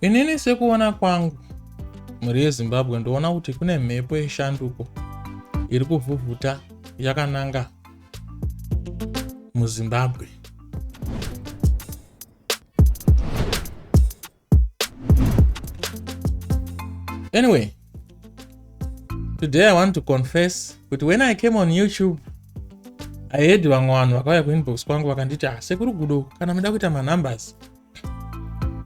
Inini sekuona kwangu mhuri yeZimbabwe ndoona kuti kune mhepo yeshanduko iri kuvhuvhuta yakananga muZimbabwe. Anyway, Today I want to confess but when I came on YouTube I heard vamwe vanhu vakauya kuinbox kwangu vakanditi ah sekuru gudo kana muda kuita manumbers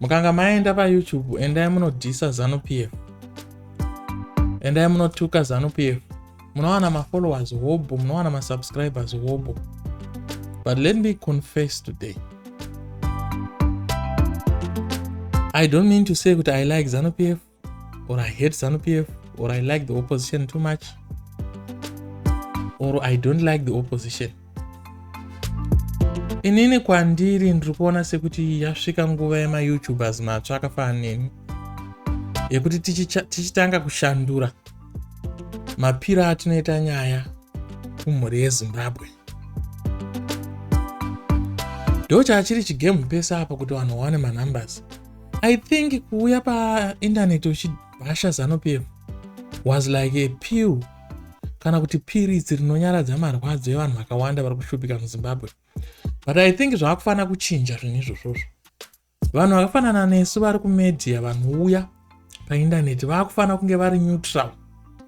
mukanga maenda payoutube endai munodhisa zanu pf endai munotuka zanu pf munowana mafollowers hobho munowana masubscribers hobho but let me confess today i don't mean to say kuti i like zanu pf or i hate zanu pf or i like the opposition too much or i don't like the opposition inini kwandiri ndiri kuona sekuti yasvika nguva yemayoutubers matsva akafana neni yekuti tichitanga kushandura mapiro atinoita nyaya kumhuri yezimbabwe ndochachiri chigemu pese apa kuti vanhu vawane manumbers I think kuuya painternet uchibhasha Zanu PF was like a pill kana kuti piritsi rinonyaradza marwadzo evanhu vakawanda vari kushupika muzimbabwe but i think zvaakufanira kuchinja zvinhu izvozvozvo vanhu vakafanana nesu vari kumedia vanouya paindaneti vaakufanira kunge vari neutral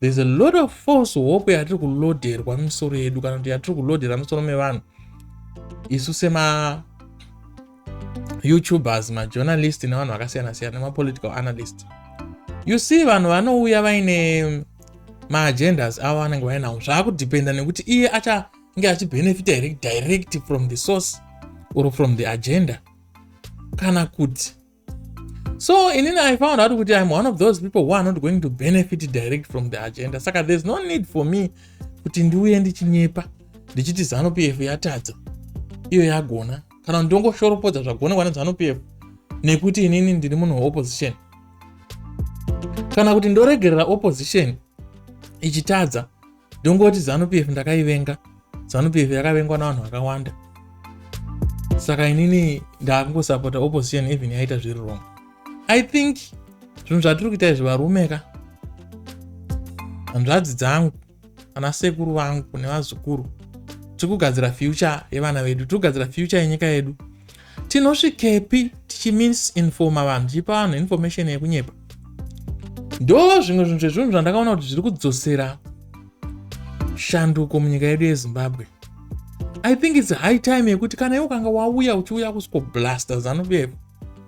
there's a lot of false hope yatiri kuloderwa misoro yedu kana kuti yatiri kulodera misoro mevanhu isu sema youtubers majournalist nevanhu vakasiyana siyana nemapolitical analyst you see vanhu vanouya vaine maagendas avo vanenge vainawo zvaakudependa nekuti iye achange achibenefita here direct from the source or from the agenda kana kuti so inini i found out kuti im one of those people who are not going to benefit direct from the agenda saka there's no need for me kuti ndiuye ndichinyepa ndichiti zanu p f yatadza iyo yagona kana ndongoshoropodza zvagonekwa nezanu p f nekuti inini ndiri munhu weopposition kana kuti ndoregerera opposition ichitadza ndongoti zanu pf ndakaivenga zanu pf yakavengwa navanhu vakawanda saka inini ndaakungosapota opposition even yaita zviri wrong i think zvinhu zvatiri kuita izvi varume ka hanzvadzi dzangu ana sekuru vangu nevazukuru tiri kugadzira future yevana vedu tiri kugadzira future yenyika yedu tinosvikepi tichimisinfoma vanhu tichipa vanhu information yekunyepa ndo zvimwe zvinhu zvezvinhu zvandakaona kuti zviri kudzosera shanduko munyika yedu yezimbabwe i think its high time yekuti kana iwe ukanga wauya uchiuya kusiko blaster zanu pf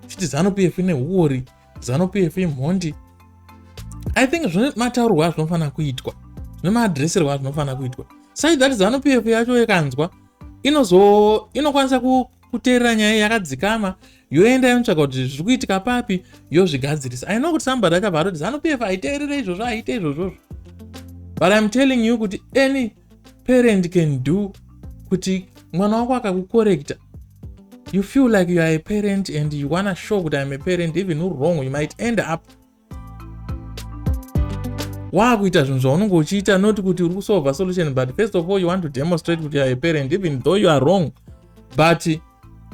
chiti zanu pf ine huori zanu pf imhondi i think zvine mataurwa azvinofanira kuitwa zvine maadreserwa azvinofanira kuitwa sai that zanu pf yacho yekanzwa inozo inokwanisa kuteerera nyaya yakadzikama yoenda yonotsvaga kuti zviri kuitika papi yozvigadzirisa i know kuti somebody achabva atoti zanupf aiteerere izvozvo aiite izvozvozvo but iam telling you kuti any parent can do kuti mwana wako akakukorekta you feel like you are a parent and you wanna show kuti iam a parent even uri wrong you might end up waakuita zvinhu zvaunenge uchiita not kuti uri kusolva solution but first of all you want to demonstrate kuti youare parent even though you are wrong but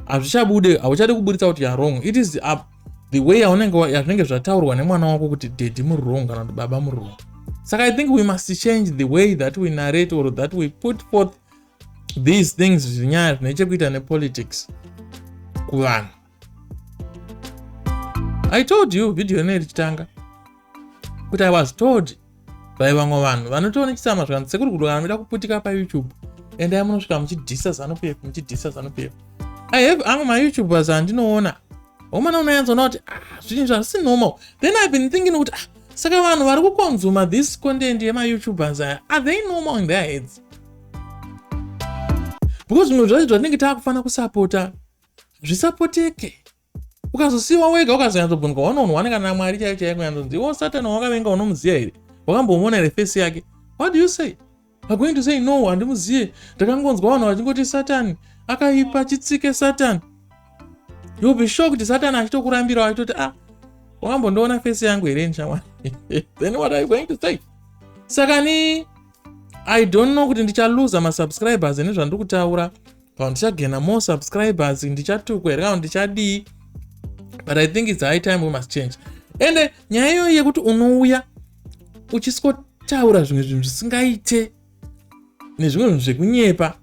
hazvichabude hauchade kuburitsa kuti youare wrong it is up the way yazvinenge zvataurwa nemwana wako kuti dedi muri wrong kana kuti baba muri wrong saka i think we must change the way that we narrate or that we put forth these things zvinyaya zvine chekuita nepolitics kuvanhu i told you video ine richitanga kuti i was told by vamwe vanhu vanotoona chisama zvikanzi sekuri kudokana muida kuputika payoutube endai munosvika muchidhisa zanupf muchidhisa zanupf i have amwe mayoutubers andinoona omana unoyanzona kuti ah, zvinhu zvazvisi normal then ive been thinking kuti ah, saka vanhu vari kukonzuma this content yemayoutubers aya are they normal in their heads because zvimwe zvacho zvatinenge taakufanira kusapota hazvisapoteke ukazosiwa wega ukazonyatsobvunzwa wanounhu wane kana mwari chaiyo chaiyo kunyatsobvunza iwo satani wawakavenga unomuziva here wakambomona here fesi yake what do you say agoing to say no handimuzive ndakangonzwa vanhu vachingoti satani akaipa chitsike satani youll be shocked satani achitokurambirawo achitoti ah wakambondiona fesi yangu here nishamwari then what are you going to say saka ni i don't know kuti ndichaluza masubscribers nezvandiri kutaura Kana ndichagena more subscribers ndichatukwa here kana ndichadii but i think its high time we must change ende nyaya iyoyi yekuti unouya uchisikotaura zvimwe zvinhu zvisingaite nezvimwe zvinhu zvekunyepa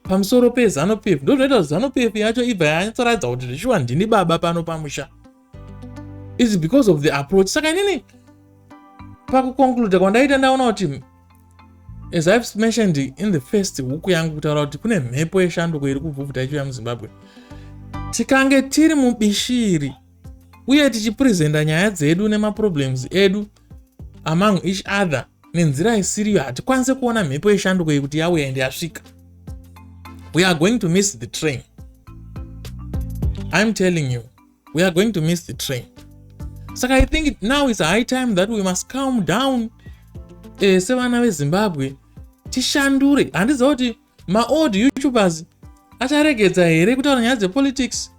pamusoro pezanupf ndo zvinoita kuti zanupf yacho ibva yanyatsoratidza kuti zvishuwa ndini baba pano pamusha is because of the approach saka inini pakuconcluda kwandaita ndaona kuti as ive mentioned in the first huku yangu kutaura kuti kune mhepo yeshanduko iri kubvubvuta ichiuya muzimbabwe tikange tiri mubishiri uye tichipresenta nyaya dzedu nemaproblems edu among each other nenzira isiriyo hatikwanise kuona mhepo yeshanduko iyi kuti yauya ende yasvika we are going to miss the train i'm telling you we are going to miss the train saka i think it now is high time that we must calm down eh, sevana vezimbabwe tishandure handiziva kuti maold youtubers acharegedza here kutaura nyaya dzepolitics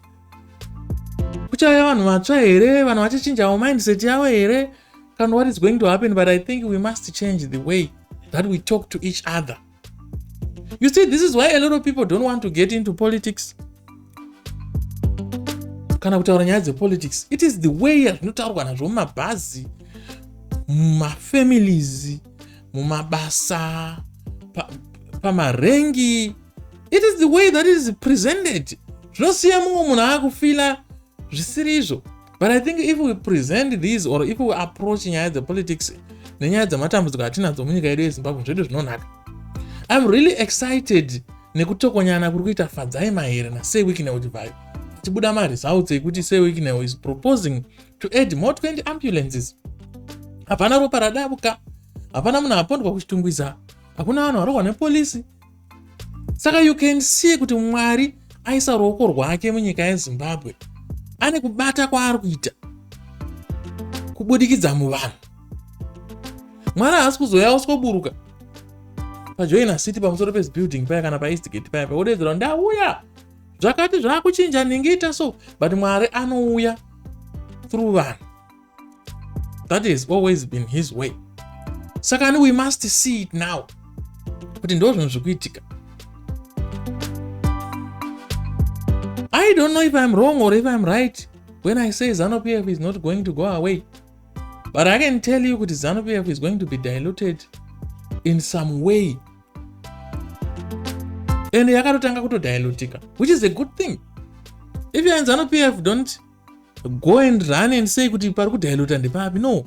kuchauya vanhu vatsva here vanhu vachachinjawo mindset yavo here kana what is going to happen but i think we must change the way that we talk to each other You see, this is why a lot of people don't want to get into politics. kana kutaura nyaya dzepolitics it is the way yazvinotaurwa nazvo mumabhazi mumafamilies mumabasa pamarengi pa it is the way that is presented zvinosiya mumwe munhu aakufila zvisiri izvo but i think if we present these or if we approach nyaya dzepolitics nenyaya dzematambudziko atinadzo munyika yedu yezimbabwe zvedu zvinonaka im really excited nekutokonyana kuri kuita fadzai mahere nasey wicknel chivhayo tibuda maresults ekuti sey wicknel is proposing to add more 20 ambulances hapana ropa radabuka hapana munhu apondwa kuchitungwiza hakuna vanhu varokwa nepolisi saka you can see kuti mwari aisa ruoko rwake munyika yezimbabwe ane kubata kwaari kuita kubudikidza muvanhu mwana haasi kuzoya usikoburuka pajoina city pamusoro pezibuilding paya kana paeastgate paya paodedzera ndauya zvakati zvaakuchinja ndingiita so but mwari anouya through vanhu that has always been his way saka ani we must see it now kuti ndo zvinhu zviri kuitika i don't know if i'm wrong or if i'm right when i say zanu pf is not going to go away but i can tell you kuti zanu pf is going to be diluted in some way and yakatotanga kutodilutika which is a good thing if you and zanu pf don't go and run and say kuti pari kudiluta ndepapi no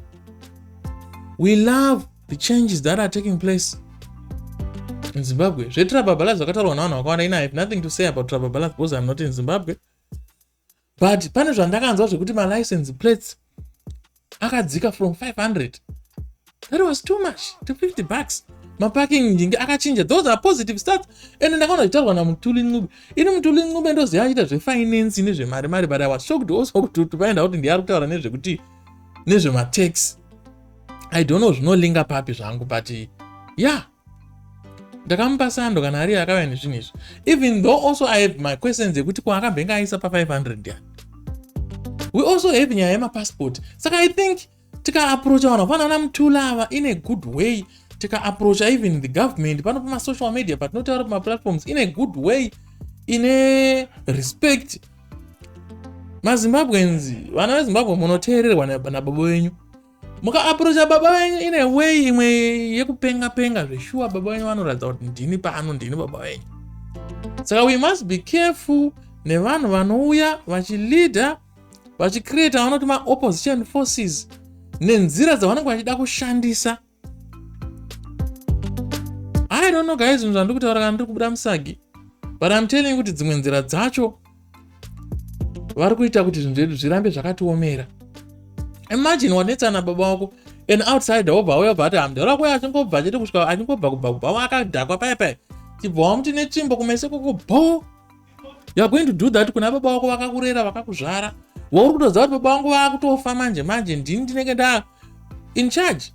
we love the changes that are taking place in zimbabwe zvetrababalas zvakataurwa navanhu vakawanda ina have nothing to say about trababalas because im not in zimbabwe but pane zvandakanzwa zvekuti malicense plates akadzika from 500 that was too much to 50 bucks maparking ndinge akachinja those are positive starts and ndakaona zvitaurwa namutuli ncube ini mutuli ncube ndoziva achiita zvefinance nezvemari mari but i was shocked also kuti paenda kuti ndiye ari kutaura nezvekuti nezvematax i don't know zvinolinga papi zvangu but yeah ndakamupa sando kana ariye akauya nezvinhu izvi even though also i have my questions ekuti ko akambenge aisa pa 500 ya we also have nyaya yemapassport saka i think tikaaprocha vanhu vafanana mutula ava in a good way tikaaprocha even the government pano pamasocial media patinotaura pamaplatforms in a good way ine respect mazimbabweans vana vezimbabwe munoteererwa nababa venyu mukaaprocha baba venyu in a way imwe yekupenga penga zveshuwa baba venyu vanoratidza kuti ndini pano ndini baba venyu saka we must be careful nevanhu vanouya vachileader vachicreata vanoti maopposition forces nenzira dzavanenge vachida kushandisa i don't know guys zvinhu zvandiri kutaura kana ndiri kubuda musagi but im telling kuti dzimwe nzira dzacho vari kuita kuti zvinhu zvedu zvirambe zvakatiomera imagine wanetsana baba wako an outsider wobva auya bva ati hamdara wako achingobva chete kusvika achingobva kubva kubva wakadhakwa paya paya chibva wamuti netsvimbo kumese koko bho youare going to do that kuna baba wako vakakurera vakakuzvara wauri kutoziva kuti baba vangu vakutofa manje manje ndini ndinenge nda in charge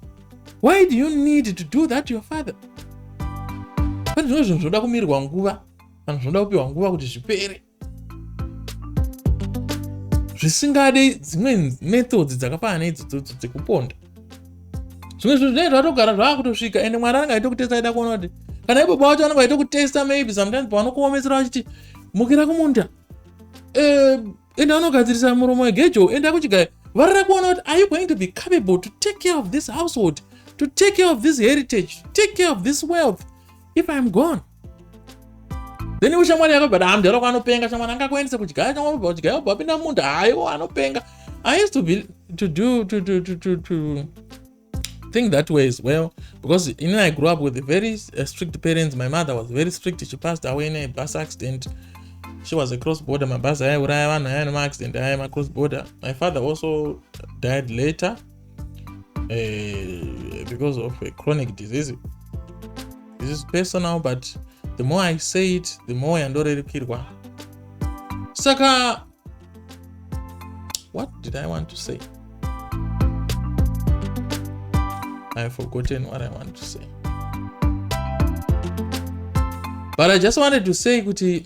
why do you need to do that to your father pane zvimwe zvinhu zvinoda kumirirwa nguva kana zvinoda kupiwa nguva kuti zvipere zvisingade dzimwe methods dzakafanana neidzodzo dzekuponda zvimwe zvinhu zvinenge zvatogara zvaakutosvika ende mwari anenge aitokutesta aida kuona kuti kana ibaba wacho anenge aitokutesta maybe sometimes pavanokuomesera vachiti mukira kumunda eh, ende anogadzirisa muromo wegejo ende akuchigaya varira kuona kuti are you going to be capable to take care of this household to take care of this heritage take care of this wealth if iam gone then iwe shamwari yako but haa mdhara wako anopenga shamwari anga akuendese kudya shamwari ubva kudya ubva apinda munda haiwo anopenga i used to be to do to, to, to, to, to think that way as well because you know i grew up with very uh, strict parents my mother was very strict she passed away in a bus accident she was a cross border mabhazi aiuraya vanhu aya nemaaccdent aya macross border my father also died later uh, because of a chronic disease this is personal but the more i say it the more yandorerukirwa saka what did i want to say i have forgotten what i want to say but i just wanted to say kuti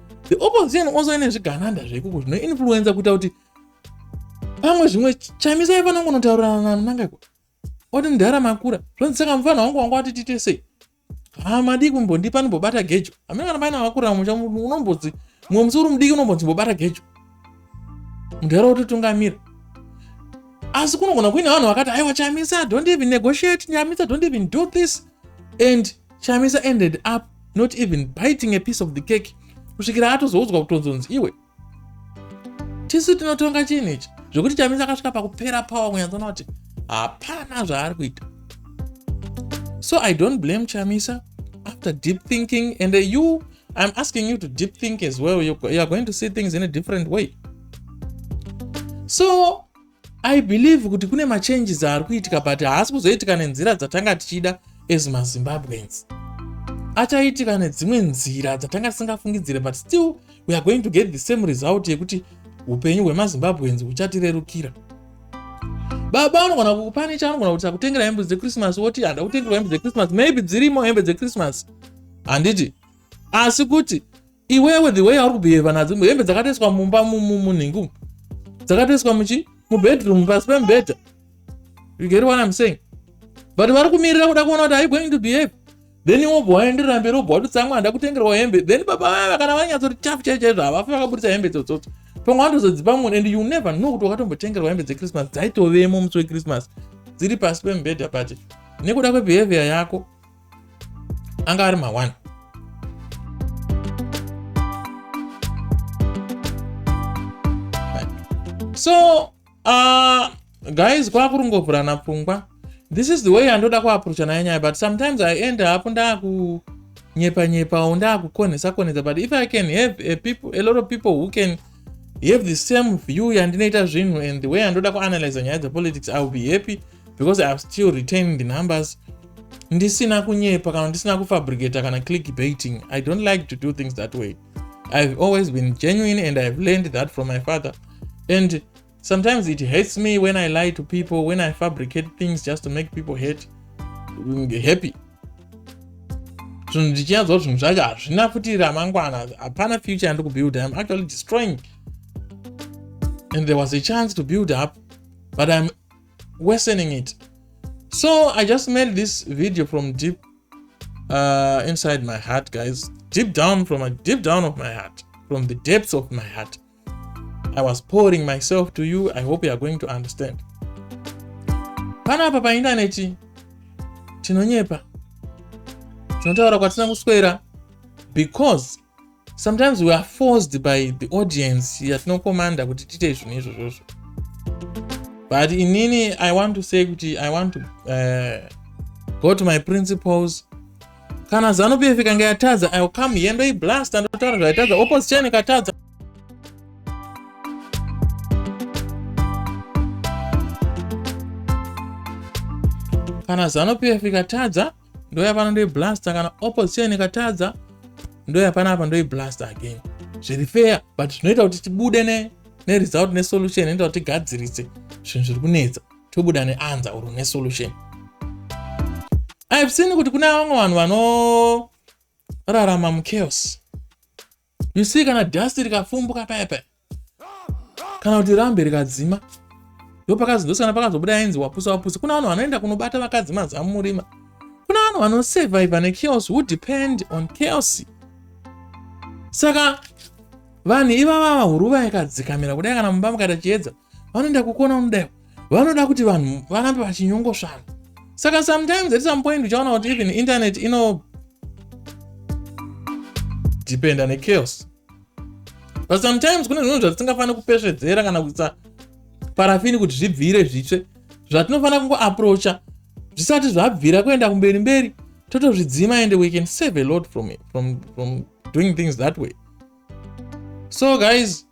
the opposition also ine zvigananda zvekuku zvinoinfluenza kuita kuti pamwe zvimwe chamisa aifana kungonotaurana nananga kuti oti mdhara makura zvonzi saka mufana wangu wanga wati tiite sei hamadii kumbondipa ndimbobata gejo hamina kana paina wakura musha unombonzi mumwe musi uri mudiki unombonzi mbobata gejo mdhara wototungamira asi kunogona kuine vanhu vakati aiwa chamisa don't even negotiate nyamisa don't even do this and chamisa ended up not even biting a piece of the cake kusvikira atozoudzwa kutonzonzi iwe tisu tinotonga chinhu ichi zvekuti chamisa akasvika pakupera power kunyatsona kuti hapana zvaari kuita so i don't blame chamisa after deep thinking and uh, you i'm asking you to deep think as well you, you are going to see things in a different way so I believe kuti kune machanges ari kuitika but haasi kuzoitika nenzira dzatanga tichida as mazimbabweans achaitika nedzimwe nzira dzatanga tisingafungidzire but still we are going to get the same result yekuti upenyu hwemazimbabweans huchatirerukira baba anogona kukupani chaanogona kuti akutengera hembe dzechristmas woti handa kutengerwa hembe dzechristmas maybe dzirimo hembe dzechristmas handiti asi kuti iwewe the way yauri kubhiheva nadzo hembe dzakatoiswa mumba munhingu dzakatoiswa muchi mubedroom pasi pemubhedha you get what i'm saying but vari kumirira kuda kuona kuti are you going to behave then wobva waenderera mberi wobva watotsamwa handa kutengerwa hembe then baba vaya kana vanyatsoti chafu chai chaizvo havafi vakaburitsa hembe dzotsotso pamwe watozodzipa munhu and you never know kuti wakatombotengerwa hembe dzechristmas dzaitovemo musi wechristmas dziri pasi pemubhedha pati nekuda kwebehavior yako anga ari mawani so uh, guys kwakurungovhurana pfungwa this is the way yandoda kuaprocha nayo nyaya but sometimes i end up ndaku nyepa nyepa or ndakukonhesa konhesa but if i can have a, people, a lot of people who can have the same view yandinoita zvinhu and the way yandoda kuanalyza nyaya dzepolitics i will be happy because i have still retained the numbers ndisina kunyepa kana ndisina kufabricator kana click baiting i don't like to do things that way i've always been genuine and i've learned that from my father and sometimes it hates me when i lie to people when i fabricate things just to make people hate mm, happy zvinhu ndichinyatsoo zvinhu zvacho hazvina futi ramangwana hapana future yandi kubuild im actually destroying and there was a chance to build up but im worsening it so i just made this video from deep uh, inside my heart guys deep down from a deep down of my heart from the depths of my heart i was pouring myself to you i hope you are going to understand panapa paindaneti tinonyepa tinotaura kwatina kuswera because sometimes we are forced by the audience yatinokomanda kuti tiite zvinhu izvozvozvo but inini i want to say kuti i want to uh, go to my principles kana zano pf ikanga yatadza iwill come here ndoiblasta ndotaura zvaitadza opposition ikatadza kana zano pf ikatadza ndoya pano ndoi blaster kana opposition ikatadza ndoya pana apa ndoi blaster again zviri fair but zvinoita kuti tibude ne neresult nesolution inoita kuti tigadzirise zvinhu zviri kunetsa tobuda neanza or nesolution ive seen kuti kune vamwe vanhu vanorarama muchaos you see kana dust rikafumbuka paya paya kana kuti rambe rikadzima ndopakazodosikana pakazobuda ainzi wapusa wapusa kuna vanhu vanoenda kunobata vakadzi mazamu murima kuna vanhu vanosurviva nechaos who depend on chaos saka vanhu ivava vahuruva yakadzikamira kudai kana mumba mukaita chiedza vanoenda kukona unodaiwa vanoda kuti vanhu varambe vachinyongosvara saka sometimes at some point uchaona kuti even internet ino dependa nechaos but sometimes kune zvinhu zvatisingafaniri kupesvedzera kana kuisa parafini kuti zvibvire zvitsve zvatinofanira kungoaproacha zvisati zvabvira kuenda kumberi mberi totozvidzima and we can save a lot from, from, from doing things that way so guys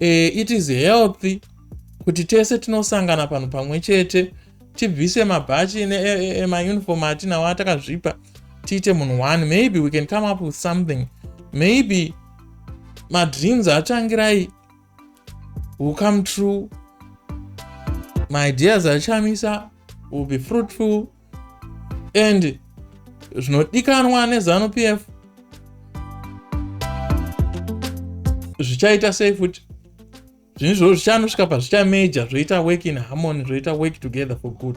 uh, it is healthy kuti tese tinosangana panhu pamwe chete tibvise mabhachi emauniform e, e, e, atinawo atakazvipa tiite munhu one maybe we can come up with something maybe madreams atsvangirai will come true my ideas achamisa will be fruitful and zvinodikanwa nezanu p f zvichaita sei futi zvinhu zvoo zvichanosvika pazvichameja zvoita work in harmony zvoita work together for good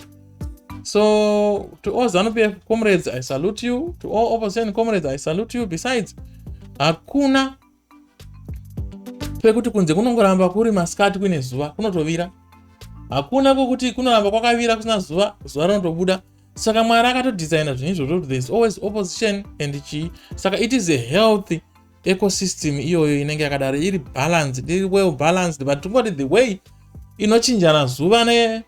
so to all zanu p f comrades i salute you to all opposition comrades i salute you besides hakuna pekuti kunze kunongoramba kuri masikati kuine zuva kunotovira hakuna kwokuti kunoramba kwakavira kusina zuva zuva rinotobuda saka mwari akatodhizaina zvinhu izvozvo kuti thereis always opposition and chii saka it is a healthy ecosystem iyoyo inenge yakadaro iri balanced iri well balanced but tingoti the way inochinjana zuva ne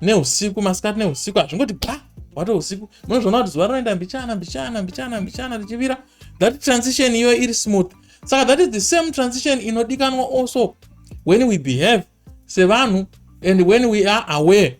neusiku masikati neusiku hazvingoti bha wati usiku munozviona kuti zuva rinoenda mbichana mbichana mbichana mbichana richivira that transition iyo iri smooth saka that is the same transition inodikanwa also when we behave sevanhu and when we are aware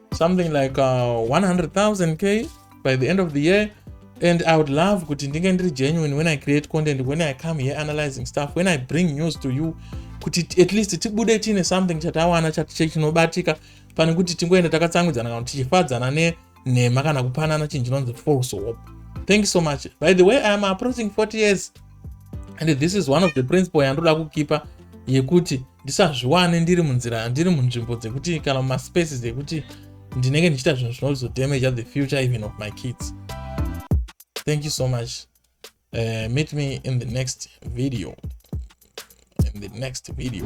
something like uh, 100,000 k by the end of the year and i would love kuti ndinge ndiri genuine when i create content when i come here analyzing stuff when i bring news to you kuti at least tibude tiine something chatawana chinobatika pane kuti tingoenda takatsangudzana kana kuti tichifadzana nenhema kana kupanana chinhu chinonzi false hope thank you so much by the way iam approaching 40 years and this is one of the principle yandoda kukipa yekuti ndisazviwane ndiri munzira ndiri munzvimbo dzekuti kana mumaspaces ekuti ndinenge ndichiita zvinhu zvinozodamaja the future even of my kids thank you so much uh, meet me in the next video in the next video